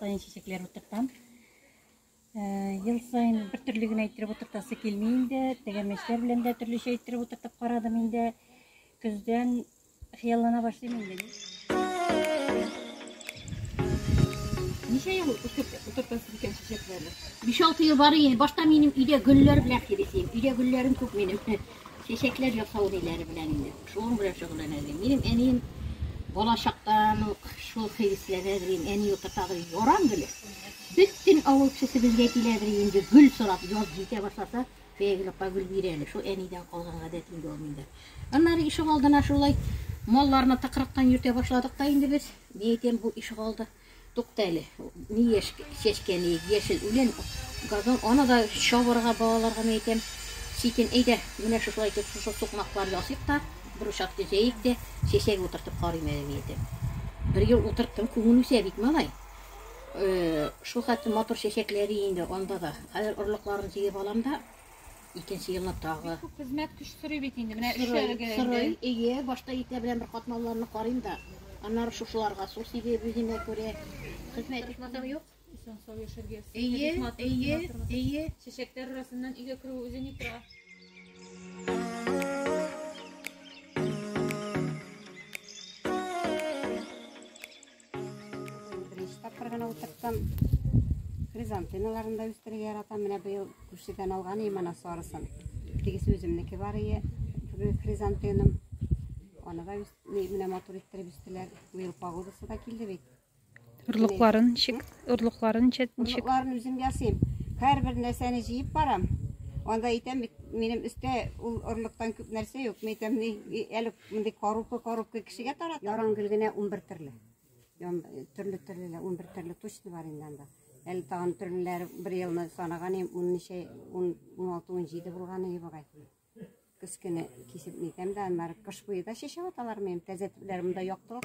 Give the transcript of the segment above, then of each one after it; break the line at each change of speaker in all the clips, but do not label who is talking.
сайын чәчәкләр утыртам. Ел сайын бер төрле генә иттереп утыртасы килми инде. Тәгәрмәчләр белән дә төрлечә иттереп утыртып карадым инде. Көздән хыяллана башлыйм инде. Ничә ел утыртасы икән чәчәкләрне? 5-6 ел бар иде. Башта минем өйдә гөлләр белән хирисем. Өйдә гөлләрем күп минем. Чәчәкләр ясау ниләре белән инде, шуның белән шөгыльләнә идем. Минем әнием балачактан ук шул хәвесләнә идем, әни утырта идем, ярам гөле. Бөтен авыл кешесе безгә килә идем инде, гөл сорап, яз җитә башласа, фәйгылыкка гөл бир әле, шул әнидән калган гадәт инде ул миндә. Аннары ишек алдына шулай малларны тыкрыктан йөртә башладык та инде без, ни әйтәм, бу ишек алды. Тукта әле, ни яшь чәчкә, ни яшел үлән, газон, аны да чабарга, балаларга мин әйтәм, читен, әйдә, менә шушылай итеп, шушы сукмаклар ясыйк та, бер учак төзәйек дә, чәчәк утыртып карыйм әле, мин әйтәм. Бер ел утырттым, күңел үсә бит, малай. Шулхәтле матур чәчәкләре инде анда да. Хәзер орлыкларын җыеп алам да. Икенче елны тагы. Бик күп хезмәт көч сорый бит инде. Менә эшләргә инде. Ие, башта итә белән бер катнауларны карыйм да. Аннары шушыларга су сибеп, үземә күрә хезмәт итмәсәм юк. Исән сау яшәргә. Ие, ие, ие. Чәчәкләр арасыннан өйгә керү үзе ни тора. Беренче тапкыр гына утырттым. Хризантемаларын да үстерергә яратам. Менә быел күршедән алган идем ана сарысын. Тегесе үземнеке бар иде. Хризантемам. Аны да менә матур иттереп үстеләр. Быел погодасы да килде бит. Орлыкларын ничек? Орлыкларын ничек? Орлыкларын үзем ясыйм. Һәрбер нәрсәне җыеп барам. Анда әйтәм бит, минем өстә ул орлыктан күп нәрсә юк. Мәйтәм, әле Мондый корупы-корупы кешегә тарата. Яран гөл генә 11 төрле. Төрле-төрле, 11 төрле точно бар инде анда. Әле тагын төрлеләр бер елны санаган ем, 16 17 булган иде бугай. Кескене кисеп нитәм дә, аннары кыш буе да чәчәк аталар минем, тәзәтләр монда яктылык.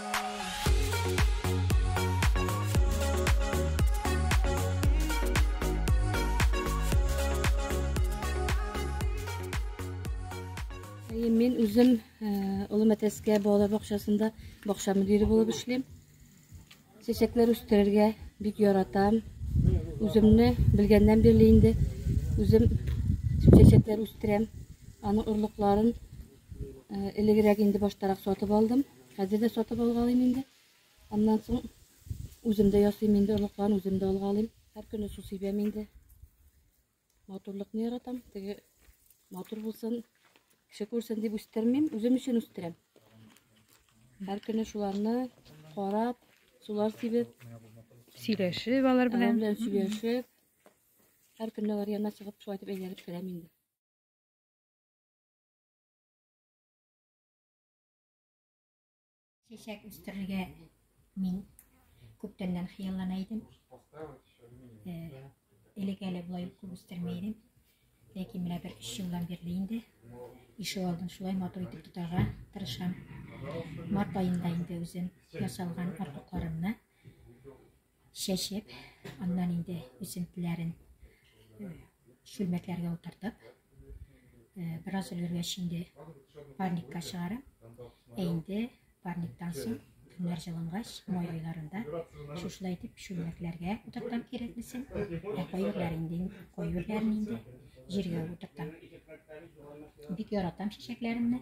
Мен үзем Олы Мәтәскә балалар бакчасында бакча мөдире булып эшлим. Чәчәкләр үстерергә бик яратам. Үземне белгәннән бирле инде үзем чәчәкләр үстерәм. Аның орлыкларын Элегрәк инде баштарак сатып алдым. Хәзер дә сатып алгалыйм инде. Аннан соң үзем дә ясыйм инде орлыкларын, үзем дә алгалыйм. Һәр көне су сибәм инде. Матурлыкны яратам. Теге матур булсын, кеше күрсен дип үстермим, үзем өчен үстерәм. Һәр көне шуларны карап, сулар сибеп, сөйләшеп алар белән. Алар белән сөйләшеп, һәр көнне алар янына чыгып, шулай итеп әйләнеп керәм инде. чәчәк үстерергә мин күптәннән хыяллана идем элек әле болай күп үстермәй идем ләкин менә бер өч елдан бирле инде ишек алдын шулай матур итеп тотарга тырышам март айында инде үзем ясалган орлыкларымны чәчеп, аннан инде үсентеләрен шүлмәкләргә утыртып, бераз өлгергәч инде парникка чыгарам. Ә инде парниктан соң көннәр җылынгач, май айларында шушылай итеп шүлмәкләргә утыртам кирәклесен. Ә кайырлар инде, кайырларын инде җиргә утыртам. Бик яратам чәчәкләремне.